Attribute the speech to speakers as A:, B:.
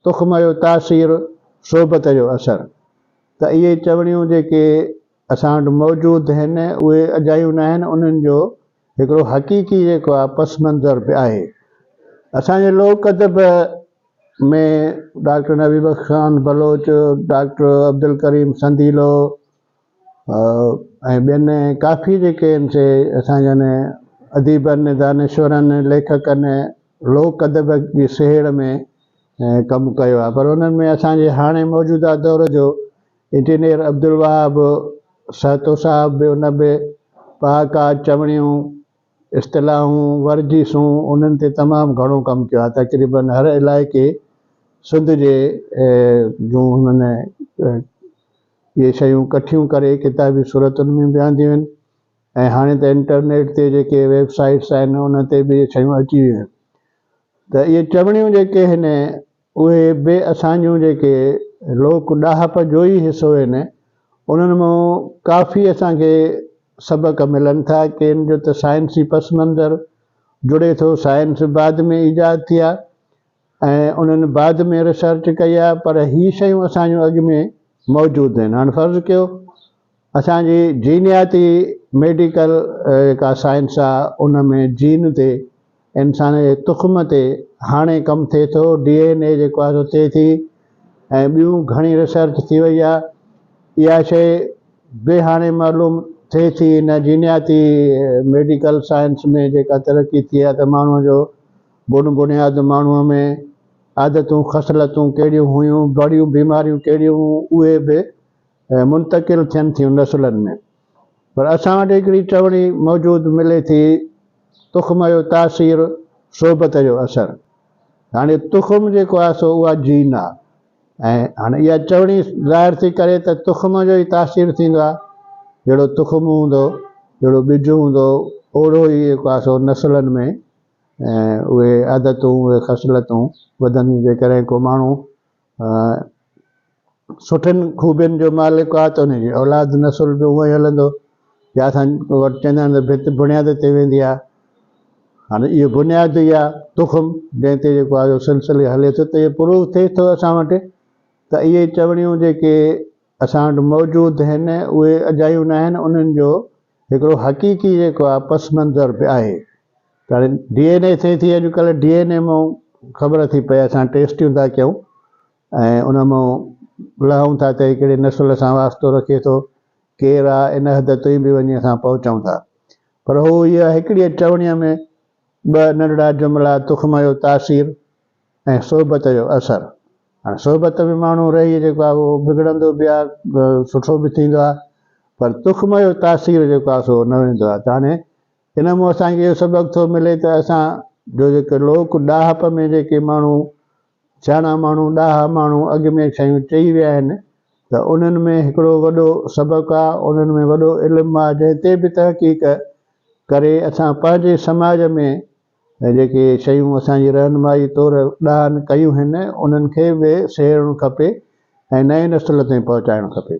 A: تخم جو تاثير، صحبت جو اثر، ته اهي چوڻيون جيڪي اسان وٽ موجود هن اهي اجايون ناهن انهن جو هڪڙو حقيقي جيڪو آ پس منظر به آهي. اسان جي لوڪ ادب ۾ ڊاڪٽر نبي بخش خان بلوچ، ڊاڪٽر عبدالڪريم سنديلو، ۽ ٻين ڪافي جيڪي آهن سي اسان جن اديبن دانشورن ليکڪن لوڪ ادب جي سهيڙ ۾ ڪم ڪيو آهي پر انهن ۾ اسان جي هاڻي موجوده دور جو انجنيئر عبدالوهاب سهتو صاحب به ان به پهاڪا چوڻيون اصطلاحون ورجيسون انهن تي تمام گهڻو ڪم ڪيو آهي تقريبا هر علائقي سنڌ جي جون هنن اهي شيون ڪٺيون ڪري ڪتابي صورتن ۾ به آنديون آهن ۽ هاڻي ته انٽرنيٽ تي جيڪي ويب سائيٽس آهن ان تي به اهي شيون اچي ويون آهن ته اهي چوڻيون جيڪي آهن اهي به اسان جون جيڪي لوڪ ڏاهپ جو ئي حصو آهن انهن مان ڪافي اسان کي سبق ملن ٿا ڪين جو ته سائنسي پس منظر جڙي ٿو سائنس بعد ۾ ايجاد ٿي آهي ۽ انهن بعد ۾ ريسرچ ڪئي آهي پر هي شيون اسان جون اڳ ۾ موجود آهن هاڻ فرض ڪيو اسان جي جينياتي ميڊيڪل جيڪا سائنس آهي ان ۾ جين تي انسان جي تخم تي هاڻي ڪم ٿئي ٿو ڊي اين اي جيڪو آهي سو ٿئي ٿي ۽ ٻيون گهڻي ريسرچ ٿي وئي آهي اها شي به هاڻي معلوم ٿئي ٿي ان جينياتي ميڊيڪل سائنس ۾ جيڪا ترقي ٿي آهي ته ماڻهوء جو بن بنياد ماڻهوء ۾ عادتون، خصلتون ڪهڙيون هيون، بڙيون بيماريون ڪهڙيون هيون، اهي به منتقل ٿين ٿيون نسلن ۾. پر اسان وٽ هڪڙي چوڻي موجود ملي ٿي، تخم جو تاثير، صحبت جو اثر. هاڻي تخم جيڪو آهي سو اها جين آهي ۽ هاڻي اها چوڻي ظاهر ٿي ڪري ته تخم جو ئي تاثير ٿيندو آهي. جهڙو تخم هوندو، جهڙو ٻج هوندو، اوڙهو ئي جيڪو آهي سو نسلن ۾ ۽ اهي عادتون، اهي خصلتون وڌنديون جيڪڏهن ڪو ماڻهو سٺين خوبين جو مالڪ آهي ته ان جي اولاد نسل به اونئي هلندو يا اسان وٽ چوندا آهن ته ڀت بنياد تي ويندي آهي هاڻي اهو بنياد ئي آهي تخم جنهن تي جيڪو آهي سلسلي هلي ٿو ته اهو پروف ٿئي ٿو اسان وٽ ته اهي چوڻيون جيڪي اسان وٽ موجود آهن اهي اجايون ناهن انهن جو هڪڙو حقيقي جيڪو آهي پس منظر به آهي ته هاڻي ڊي اين اي ٿئي ٿي اڄ ڪلهه ڊي اين اي مان خبر ٿي پئي اسان ٽيسٽيون ٿا ڪيون ۽ ان مان لهون ٿا ته هي ڪهڙي نسل سان واسطو رکي ٿو ڪير آ ان حد تائين به وڃي اسان پهچون ٿا پر هو اها هڪڙيء چوڻيء ۾ ٻه ننڍڙا جملا تخم جو تاثير ۽ صحبت جو اثر هاڻي صحبت ۾ ماڻهو رهي جيڪو آهي اهو بگڙندو به آهي سٺو به ٿيندو آهي پر تخم جو تاثير جيڪو آهي سو نه ويندو آهي ته هاڻي ان مون اسان کي اهو سبق ٿو ملي ته اسان جو جيڪي لوڪ ڏاهپ ۾ جيڪي ماڻهو سياڻا ماڻهو ڏاها ماڻهو اڳ ۾ شيون چئي ويا آهن ته انهن ۾ هڪڙو وڏو سبق آ انهن ۾ وڏو علم آ جنهن تي به تحقيق ڪري اسان پنهنجي سماج ۾ ۽ جيڪي شيون اسان جي رهنمائي طور ڏاهن ڪيون هن انهن کي به سهيڙڻ کپي ۽ نئين نسل تائين پهچائڻ کپي.